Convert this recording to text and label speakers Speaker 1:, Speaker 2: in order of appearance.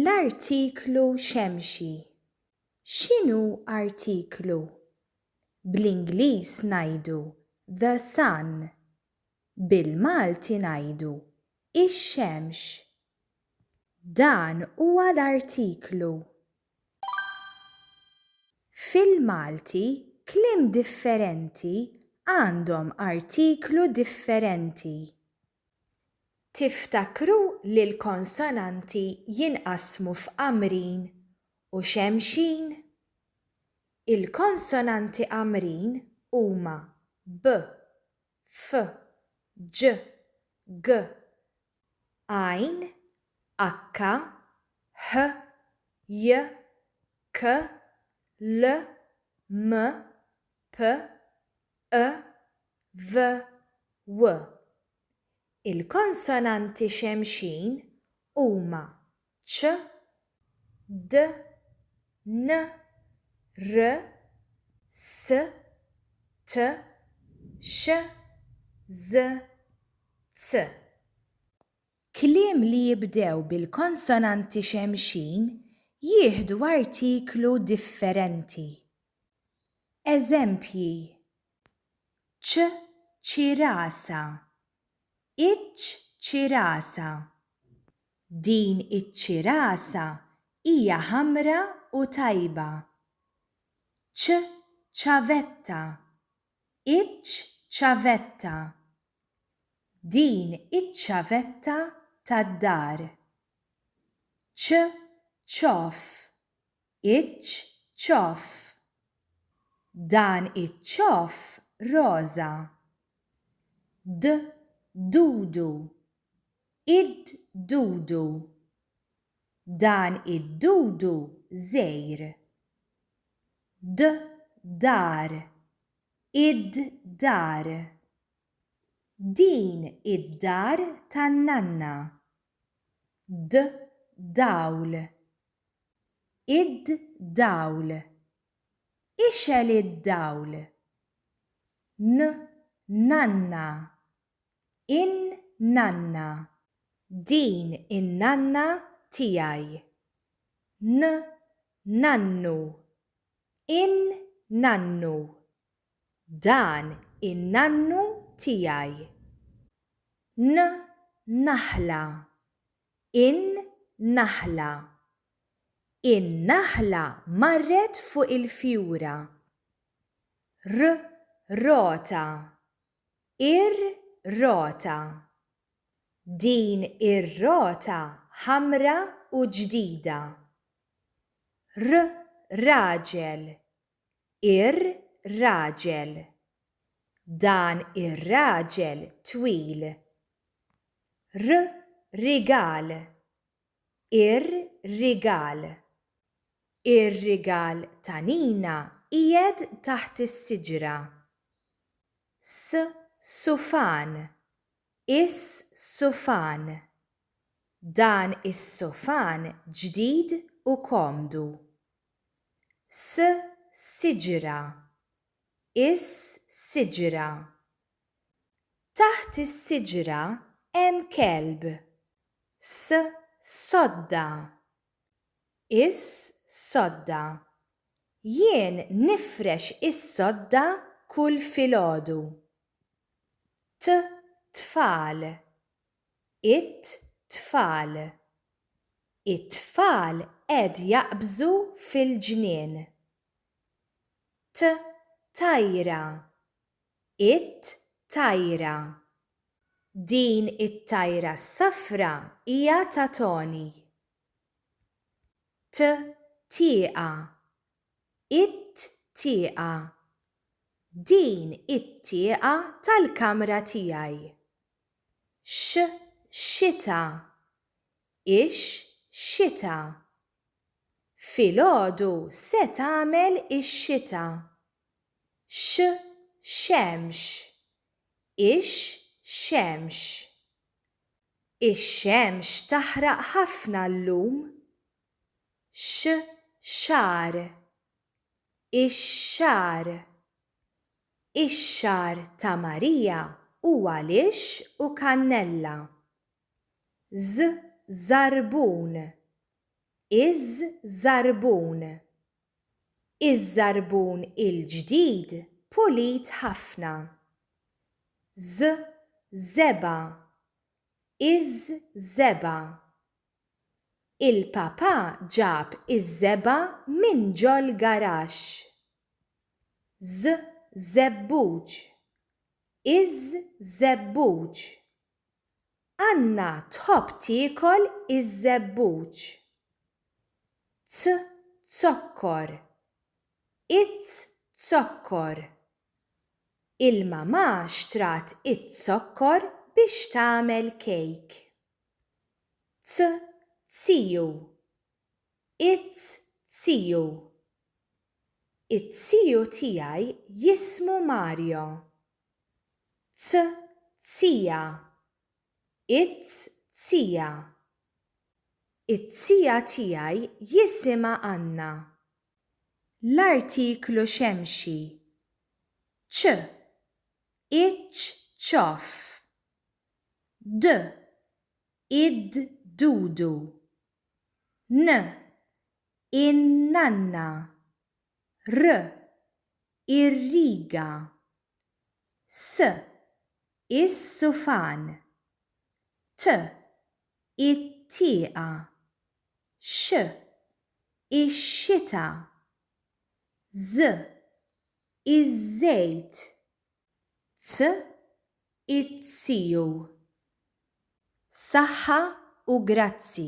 Speaker 1: L-artiklu xemxi X'inhu artiklu? Bl-Ingliż ngħidu the sun. Bil-Malti ngħidu ix-xemx. Dan huwa l-artiklu. Fil-Malti kliem differenti għandhom artiklu differenti. Tiftakru li l-konsonanti jinqasmu f'qamrin u xemxin? Il-konsonanti qamrin huma b, f, ġ, g, għajn, akka, ħ, j, k, l, m, p, ë-v-w. Il-konsonanti xemxin huma ċ, d, n, r, s, t, sh, ż, z. Kliem li jibdew bil-konsonanti xemxin jieħdu artiklu differenti. Eżempji, ċ ċirasa, iċ ċirasa, Din iċ-ċirasa hija ħamra u tajba. Ċ ċavetta, iċ ċavetta, Din iċ-ċavetta tad-dar. Ċ ċoff, Iċ-ċoff. Dan iċ-ċoff roża. D-dudu. Id-dudu. Dan id-dudu żgħir. D-dar. Id-dar. Din id-dar tan-nanna. D-dawl. id-dawl, ixgħel id-dawl. N, nanna, in-nanna. Din in-nanna tiegħi. N, nannu, in-nannu. Dan in-nannu tiegħi. N, naħla, in-naħla. In-naħla marret fuq il-fjura. R, rota. Ir-rota. Din ir-rota ħamra u ġdida. R, raġel. Ir-raġel. Dan ir-raġel twil. R rigal. Ir-rigal. Ir-rigal ta' Nina qiegħed taħt is-siġra. S sufan. Is sufan. Dan is-sufan ġdid u komdu. s siġra is siġra taħt is-siġra hemm kelb s sodda is sodda jien nifrex is-sodda kull filgħodu t tfal It-tfal. It-tfal qed jaqbżu fil-ġnien. T, tajra. It-tajra. Din it-tajra s-safra hija ta' Toni. T, tieqa. It-tieqa. Din it-tieqa tal-kamra tiegħi. X-xita, ix-xita. Filgħodu se tagħmel ix-xita. X-xemx, ix-xemx. Ix-xemx taħraq ħafna llum. X-xagħar, ix-xagħar. Ix-xagħar ta' Marija hu għalix u kannella. Ż żarbun Iż żarbun Iż żarbun il-ġdid pulit ħafna. Ż żebgħa Iż żebgħa Il-Papà ġab iż-żebgħa minn ġol-garaxx. Ż, żebbuġ. Iż, żebbuġ. Anna tħobb tiekol iż-żebbuġ. T, zokkor. Iz, zokkor. Il-Mamà xtrat iz-zokkor biex tagħmel kejk. t ziju it ziju it ziju tiegħi jismu Mario t zija it zija it zija tiegħi jisimha Anna l-artiklu xemxi ċ iċ ċoff. d, id, dudu, n, in-nanna, r, ir-riga, s, is-sufan, t, it-tieqa, x, ix-xita, ż, iż-żejt, t izziju. Saħħa u grazzi.